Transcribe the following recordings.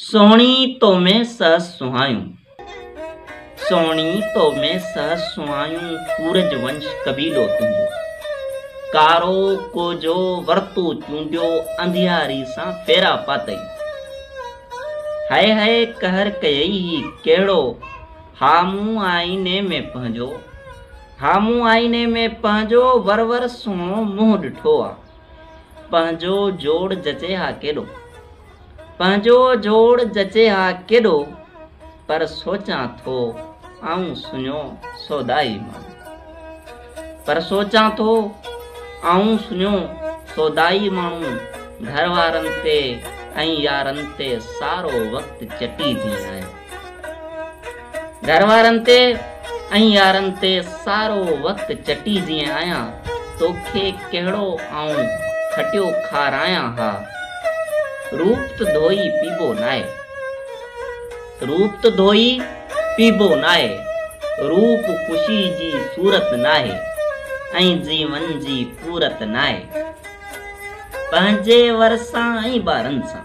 سهڻي تو ۾ سهس سهايون، سهڻي تو ۾ سهس سهايون، سورج ونش قبيلو تنهنجو، ڪارو ڪوجو ورتو چونڊيو، انڌياري سان ڦيرا پاتئي، هئي هئي قهر ڪيئي هي ڪهڙو، ها مون آئيني ۾ پنهنجو، ها مون آئيني ۾ پنهنجو، ور ور سهڻو منهن ڏٺو آ. پنهنجو جوڙ جچي ها ڪيڏو پنهنجو جوڙ جچي ها ڪيڏو پر سوچان ٿو آئون سڃو سودائي ماڻهو پر سوچان ٿو آئون سڃو سودائي ماڻهو گهر وارن تي ۽ يارن تي سارو وقت چٽي ٿي آهي گهر وارن تي ۽ يارن تي سارو وقت چٽي جيئن آهيان توکي ڪهڙو آئون کٽيو کارايان ها روپ ته ڌوئي پيبو ناهي روپ ته ڌوئي پيبو ناهي روپ خوشي جي صورت ناهي ۽ جيون جي پورت ناهي پنهنجي ور سان ۽ ٻارن سان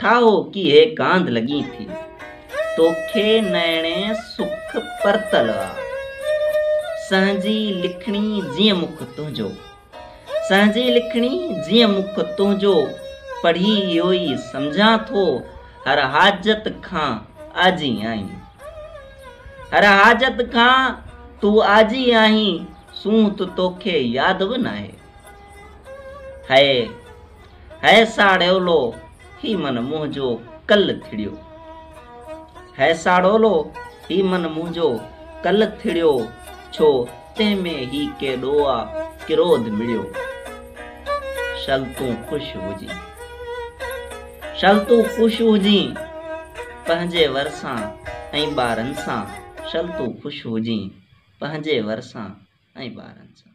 ٺاهو ڪيئي ڪانڌ لڳين ٿي. توکي نئڻي سک پرتل آ. سهنجي لکڻي جيئن مک تنهنجو. سهنجي لکڻي جيئن مک تنهنجو. پڙهي اهو ئي سمجهان ٿو هر حاجت کان آجي آهين. هر حاجت کان تون آجي آهين سونهن ته توکي ياد به ناهي. هيء هيء ساڙولو هي من منهنجو ڪل ٿڙيو هيء ساڙولو هي من منهنجو ڪل ٿڙيو ڇو تنهن ۾ هي ڪيڏو آ ڪروڌ مڙيو شل تون خوش هجين شل تون خوش هجين پنهنجي ور سان ۽ ٻارن سان شل تون خوش هجين پنهنجي ورسان ۽ ٻارن سان.